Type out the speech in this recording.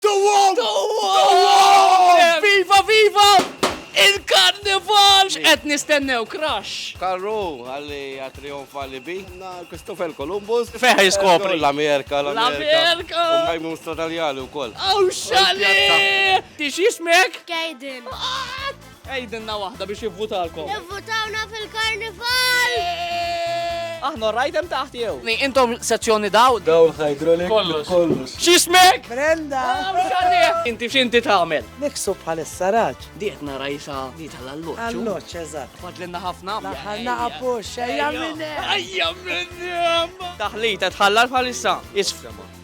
Dowwom! Dowwom! Viva, viva! Il-karnival! X'qed nistennew, crush? Karru għalli għat-trijonf għalli bi. Christopher Columbus. Feħ jiskopri. L-Amerika, l-Amerika. U majmun stratanjali u koll. Aw xali! Tix jismek? Kaden. Ah! Għidilna waħda biex jivvutalkom. Ivvutawna fil-karnival! Aħna rajt hemm taħt jew. Intom sezzjoni daw. Daw ħajdrolik. Kollox. Kollox. X'ismek? Brenda. Inti x'inti tagħmel? Niksu bħalissa raġ. Diet nara jisa di tal-alloċ. Alloċ, eżatt. Fadlinna ħafna. Ħanna apux, ejja minni. Ejja minni. Taħlita tħallar bħalissa. Isfrema.